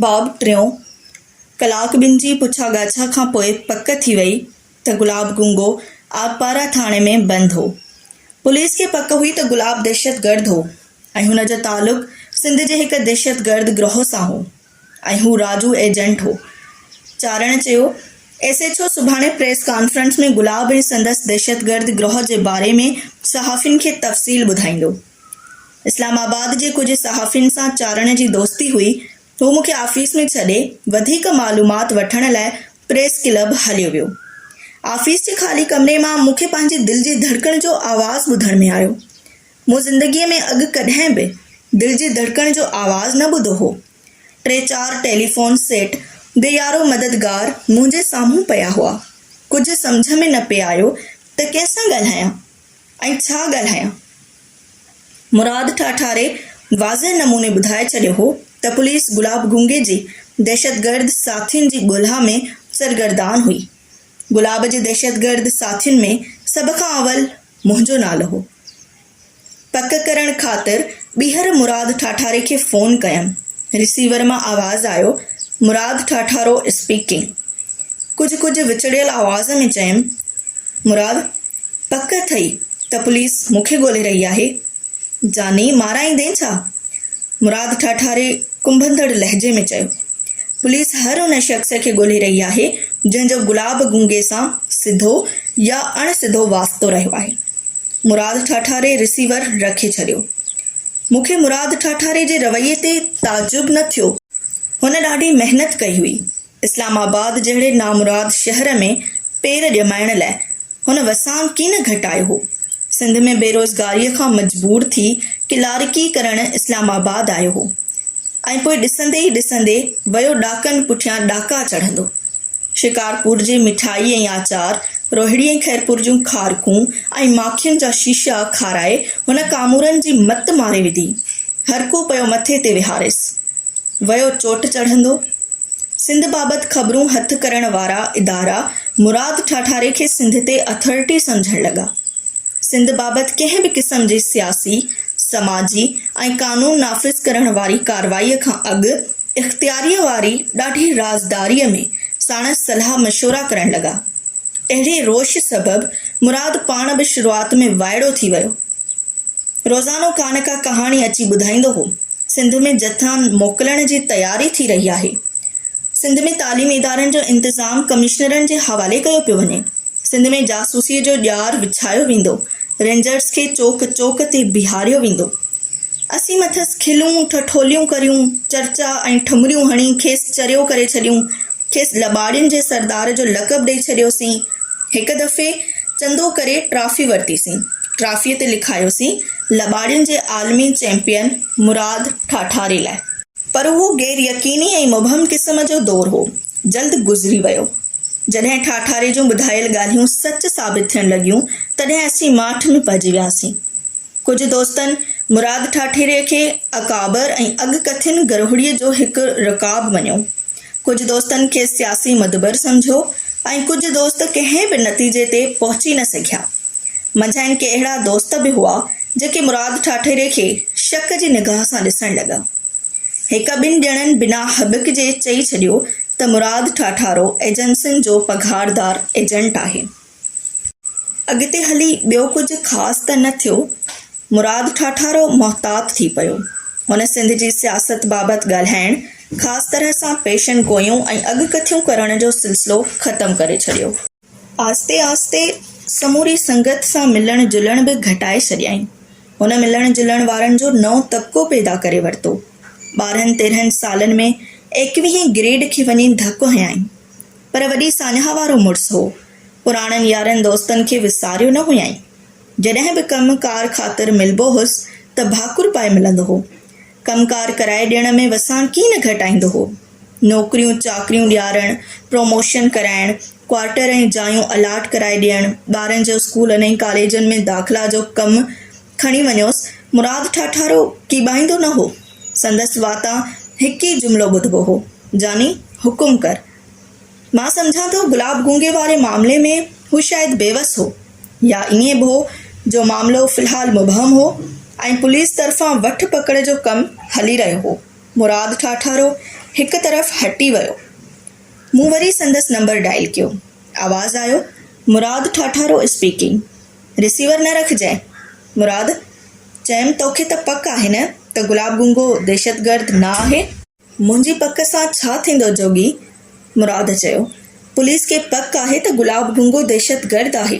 باب ٽيون، ڪلاڪ ٻن جي پڇا ڳاڇا کان پوء پڪ ٿي وئي ته گلاب گونگو آبپارا ٿاڻي ۾ بند هو. پوليس کي پڪ هئي ته گلاب دهشتگرد هو ۽ هن جو تعلق سنڌ جي هڪ دهشتگرد گروهه سان هو ۽ هو راجو ايجنٽ هو. چارڻ چيو، ايس ايڇ او سڀاڻي پريس ڪانفرنس ۾ گلاب ۽ سندس دهشتگرد گروهه جي باري ۾ صحافين کي تفصيل ٻڌائيندو. اسلام آباد جي ڪجهه صحافين سان چارڻ جي دوستي هئي. هو مون کي آفيس ۾ ڇڏي، وڌيڪ معلومات وٺڻ لاء پريس ڪلب هليو ويو. آفيس جي خالي ڪمري مان مون کي پنهنجي دل جي ڌڙڪڻ جو آواز ٻڌڻ ۾ آيو. مون زندگيء ۾ اڳ ڪڏهن به دل جي ڌڙڪڻ جو آواز نه ٻڌو هو. ٽي چار ٽيليفون سيٽ بي يارو مددگار منهنجي سامهون پيا هئا. ڪجهه سمجهه ۾ نه پئي آيو ته ڪنهن سان ڳالهايان. ۽ ڇا ڳالهايان؟ مراد ٺاٺاري واضح نموني ٻڌائي ڇڏيو هو ته پوليس گلاب گونگي جي دهشتگرد ساٿين جي ڳولها ۾ سرگردان هئي. گلاب جي دهشتگرد ساٿين ۾ سڀ کان اول منهنجو نالو هو. پڪ ڪرڻ خاطر ٻيهر مراد ٺاٺاري کي فون ڪيم. رسيور مان آواز آيو، مراد ٺاٺارو اسپيڪنگ. ڪجهه ڪجهه وچڙيل آواز ۾ چيم، مراد! پڪ اٿئي ته پوليس مون کي ڳولي رهي آهي. جاني مارائيندين ڇا؟ مراد ٺاٺاري ڪنڀندڙ لهجي ۾ چيو. پوليس هر ان شخص کي ڳولي رهي آهي جنهن جو گلاب گونگي سان سڌو يا اڻ سڌو واسطو رهيو آهي. مراد ٺاٺاري رسيور رکي ڇڏيو. مون کي مراد ٺاٺاري جي رويي تي تعجب نه ٿيو. هن ڏاڍي محنت ڪئي هئي. اسلام آباد جهڙي نامراد شهر ۾ پير ڄمائڻ لاء هن وسان ڪين گهٽايو هو. سنڌ ۾ بيروزگاريء کان مجبور ٿي ڪلارڪي ڪرڻ اسلام آباد آيو هو ۽ پوء ڏسندي ئي ڏسندي ويو ڏاڪن پٺيان ڏاڪا چڙهندو. شڪارپور جي مٺائي ۽ آچار، روهڙي ۽ خيرپور جون کارڪون ۽ ماکين جا شيشا کارائي هن ڪامورن جي مت ماري وڌي. هرڪو پيو مٿي تي ويهاريس. ويو چوٽ چڙهندو. سنڌ بابت خبرون هٿ ڪرڻ وارا ادارا مراد ٺاٺاري کي سنڌ تي اٿارٽي سمجهڻ لڳا. سنڌ بابت ڪنهن به قسم جي سياسي، سماجي ۽ قانون نافذ ڪرڻ واري ڪاروائيء کان اڳ اختياريء واري ڏاڍي رازداريء ۾ ساڻس صلاح مشورا ڪرڻ لڳا. اهڙي روش سبب مراد پاڻ به شروعات ۾ وائڙو ٿي ويو. روزانو ڪا نه ڪا ڪهاڻي اچي ٻڌائيندو هو. سنڌ ۾ جٿا موڪلڻ جي تياري ٿي رهي آهي، سنڌ ۾ تعليمي ادارن جو انتظام ڪمشنرن جي حوالي ڪيو پيو وڃي، سنڌ ۾ جاسوسي جو ڄار وڇايو ويندو، رينجرز کي چوڪ چوڪ تي بيهاريو ويندو، اسين مٿس کلون، ٺٺوليون ڪريون، چرچا ۽ ٺمريون هڻي کيس چريو ڪري ڇڏيون، کيس لٻاڙين جي سردار جو لقب ڏئي ڇڏيوسين. هڪ دفعي چندو ڪري ٽرافي ورتيسين. ٽرافيء تي لکايوسين لٻاڙين جي عالمي چيمپيئن مراد ٺاٺاري لاء. پر اهو غير يقيني ۽ مبهم قسم جو دور هو. جلد گذري ويو. جڏهن ٺاٺاري جون ٻڌايل ڳالهيون سچ ثابت ٿيڻ لڳيون، تڏهن اسين ماٺ ۾ پئجي وياسين. ڪجهه دوستن مراد ٺاٺيري کي اڪابر ۽ اڳڪٿين گرهوڙيء جو هڪ رڪاب مڃيو. ڪجهه دوستن کيس سياسي مدبر سمجهيو ۽ ڪجهه دوست ڪنهن به نتيجي تي پهچي نه سگهيا. منجهائن ڪي اهڙا دوست به هئا جيڪي مراد ٺاٺيري کي شڪ جي نگاهه سان ڏسڻ لڳا. هڪ ٻن ڄڻن بنا هٻڪ جي چئي ڇڏيو ته مراد ٺاٺارو ايجنسين جو پگهاردار ايجنٽ آهي. اڳتي هلي ٻيو ڪجهه خاص ته نه ٿيو. مراد ٺاٺارو محتاط ٿي پيو. هن سنڌ جي سياست بابت ڳالهائڻ، خاص طرح سان پيشن گوئيون ۽ اڳڪٿيون ڪرڻ جو سلسلو ختم ڪري ڇڏيو. آهستي آهستي سموري سنگت سان ملڻ جلڻ به گهٽائي ڇڏيائين. هن ملڻ جلڻ وارن جو نئون طبقو پيدا ڪري ورتو. ٻارهن تيرهن سالن ۾ ايڪويهين گريڊ کي وڃي ڌڪ هنيائين. پر وڏي ساڃاهه وارو مڙس هو. پراڻن يارن دوستن کي وساريو نه هيائين. جڏهن به ڪم ڪار خاطر ملبو هوس ته ڀاڪر پائي ملندو هو. ڪم ڪار ڪرائي ڏيڻ ۾ وساڻ ڪي نه گهٽائيندو هو. نوڪريون چاڪريون ڏيارڻ، پروموشن ڪرائڻ، ڪوارٽر ۽ جايون الاٽ ڪرائي ڏيڻ، ٻارن جو اسڪولن ۽ ڪاليجن ۾ داخلا جو ڪم کڻي وڃوس، مراد ٺاٺارو ڪيٻائيندو نه هو. سندس واتان هڪ ئي جملو ٻڌبو هو، يعني حڪم ڪر. مان سمجهان ٿو گلاب گونگي واري معاملي ۾ هو شايد بيوس هو يا ائين به هو جو معاملو في الحال مبهم هو ۽ پوليس طرفان وٺ پڪڙ جو ڪم هلي رهيو هو. مراد ٺاٺارو هڪ طرف هٽي ويو. مون وري سندس نمبر ڊائل ڪيو. آواز آيو، مراد ٺاٺارو اسپيڪنگ. ريسيور نه رکجئين. مراد، چيم توکي ته پڪ آهي نه ته گلاب گونگو دهشتگرد نه آهي؟ منهنجي پڪ سان ڇا ٿيندو جوڳي؟ مراد چيو، پوليس کي پڪ آهي ته گلاب گونگو دهشتگرد آهي.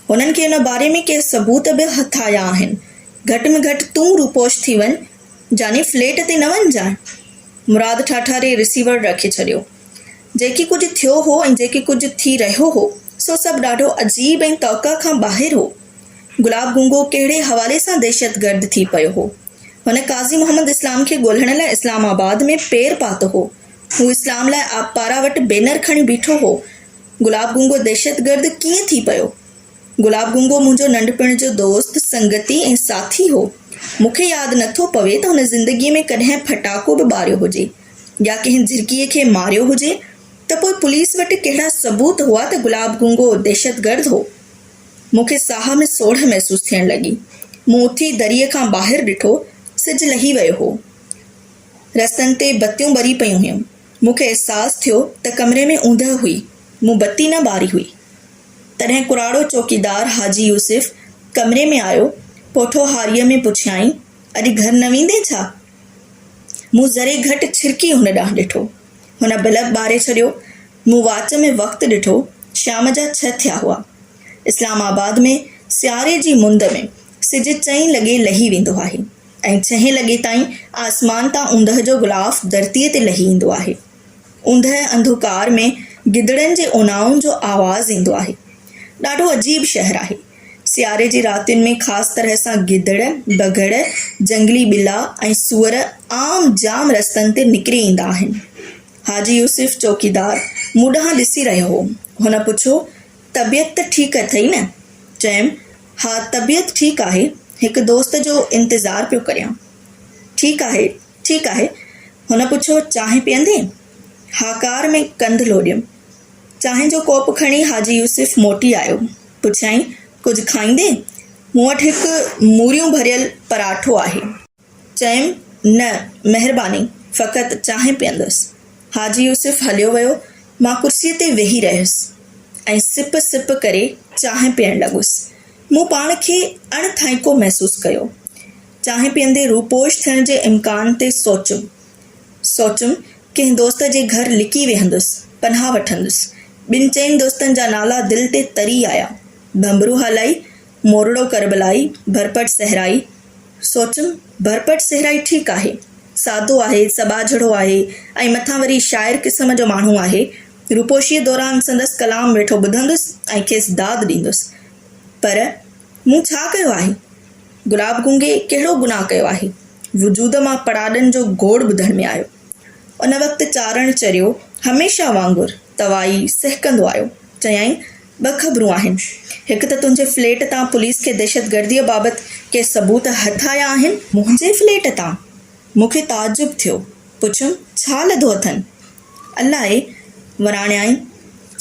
هنن کي ان باري ۾ ڪي ثبوت به هٿ آيا آهن. گهٽ ۾ گهٽ تون روپوش ٿي وڃ. جاني فليٽ تي نه وڃجانء. مراد ٺاٺاري رسيور رکي ڇڏيو. جيڪي ڪجهه ٿيو هو ۽ جيڪي ڪجهه ٿي رهيو هو، سو سڀ ڏاڍو عجيب ۽ توقع کان ٻاهر هو. گلاب گونگو ڪهڙي حوالي سان دهشتگرد ٿي پيو هو. هن قاضي محمد اسلام کي ڳولهڻ لاء اسلام آباد ۾ پير پاتو هو. هو اسلام لاء آبپارا وٽ بينر کڻي بيٺو هو. گلاب گونگو دهشتگرد ڪيئن ٿي پيو؟ گلاب گنگو منهنجو ننڍپڻ جو دوست، سنگتي ۽ ساٿي هو. مون کي ياد نه ٿو پوي ته هن زندگيء ۾ ڪڏهن ڦٽاڪو به ٻاريو هجي يا ڪنهن جهرڪيء کي ماريو هجي ته پوء پوليس وٽ ڪهڙا ثبوت هئا ته گلاب گنگو دهشتگرد هو. مون کي ساهه ۾ سوڙهه محسوس ٿيڻ لڳي. مون اٿي دريء کان ٻاهر ڏٺو. سج لهي ويو هو. رستن تي بتيون ٻري پيون هيون. مون کي احساس ٿيو ته ڪمري ۾ اوندهه هئي. مون بتي نه ٻاري هئي. تڏهن ڪراڙو چوڪيدار حاجي يوسف ڪمري ۾ آيو، پوٺوهاريء ۾ پڇيائين، اڄ گهر نه ويندين ڇا؟ مون ذري گهٽ ڇرڪي هن ڏانهن ڏٺو. هن بلب ٻاري ڇڏيو. مون واچ ۾ وقت ڏٺو، شام جا ڇهه ٿيا هئا. اسلام آباد ۾ سياري جي مند ۾ سج چئين لڳي لهي ويندو آهي ۽ ڇهين لڳي تائين آسمان تان اوندهه جو غلاف ڌرتيء تي لهي ايندو آهي. اوندهه انڌوڪار ۾ گدڙن جي اونائن جو آواز ايندو آهي. ڏاڍو عجيب شهر آهي. سياري جي راتين ۾ خاص طرح سان گدڙ، بگهڙ، جهنگلي ٻلا ۽ سوئر عام جام رستن تي نڪري ايندا آهن. حاجي يوسف چوڪيدار مون ڏانهن ڏسي رهيو هو. هن پڇيو، طبيعت ته ٺيڪ اٿئي نه؟ چيم، ها طبيعت ٺيڪ آهي، هڪ دوست جو انتظار پيو ڪريان. ٺيڪ آهي. ٺيڪ آهي. هن پڇيو، چانهه پيئندين؟ هاڪار ۾ ڪنڌ لوڏيم. چانهه جو ڪوپ کڻي حاجي يوسف موٽي آيو. پڇيائين، ڪجهه کائيندين؟ مون وٽ هڪ موريون ڀريل پراٺو آهي. چيم، نه، مهرباني، فقط چانهه پيئندس. حاجي يوسف هليو ويو. مان ڪرسيء تي ويهي رهيس ۽ سپ سپ ڪري چانهه پيئڻ لڳس. مون پاڻ کي اڻ ٿائينڪو محسوس ڪيو. چانهه پيئندي روپوش ٿيڻ جي امڪان تي سوچيم. سوچيم ڪنهن دوست جي گهر لڪي ويهندس، پناهه وٺندس. ٻن چئن دوستن جا نالا دل تي تري آيا، ڀنڀرو هالائي، مورڙو ڪربلائي، ڀرپٽ صحرائي. سوچيم ڀرپٽ صحرائي ٺيڪ آهي. سادو آهي، سٻاجهڙو آهي ۽ مٿان وري شاعر قسم جو ماڻهو آهي. روپوشيء دوران سندس ڪلام ويٺو ٻڌندس ۽ کيس داد ڏيندس. پر مون ڇا ڪيو آهي؟ گلاب گونگي ڪهڙو گناهه ڪيو آهي؟ وجود مان پڙاڏن جو گوڙ ٻڌڻ ۾ آيو. ان وقت چارڻ چريو هميشه وانگر توائي سهڪندو آيو. چيائين، ٻه خبرون آهن. هڪ ته تنهنجي فليٽ تان پوليس کي دهشتگرديء بابت ڪي ثبوت هٿ آيا آهن. منهنجي فليٽ تان؟ مون کي تعجب ٿيو. پڇيم، ڇا لڌو اٿن؟ الاهي وراڻيائين.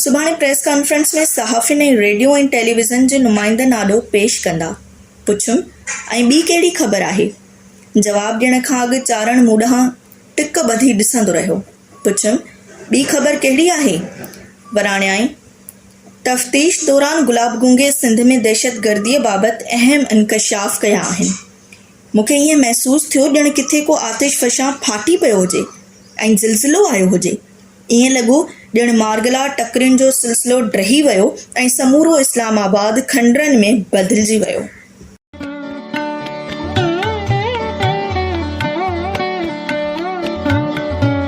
سڀاڻي پريس ڪانفرنس ۾ صحافين ۽ ريڊيو ۽ ٽيليويزن جي نمائندن آڏو پيش ڪندا. پڇيم، ۽ ٻي ڪهڙي خبر آهي؟ جواب ڏيڻ کان اڳ چارڻ مون ڏانهن ٽڪ ٻڌي ڏسندو رهيو. پڇيم، ٻي خبر ڪهڙي آهي؟ وراڻيائين، تفتيش دوران گلاب گونگي سنڌ ۾ دهشتگرديء بابت اهم انڪشاف ڪيا آهن. مون کي ائين محسوس ٿيو ڄڻ ڪٿي ڪو آتش فشان ڦاٽي پيو هجي ۽ زلزلو آيو هجي. ائين لڳو ڄڻ مارگلا ٽڪرين جو سلسلو ڊهي ويو ۽ سمورو اسلام آباد کنڊرن ۾ بدلجي ويو.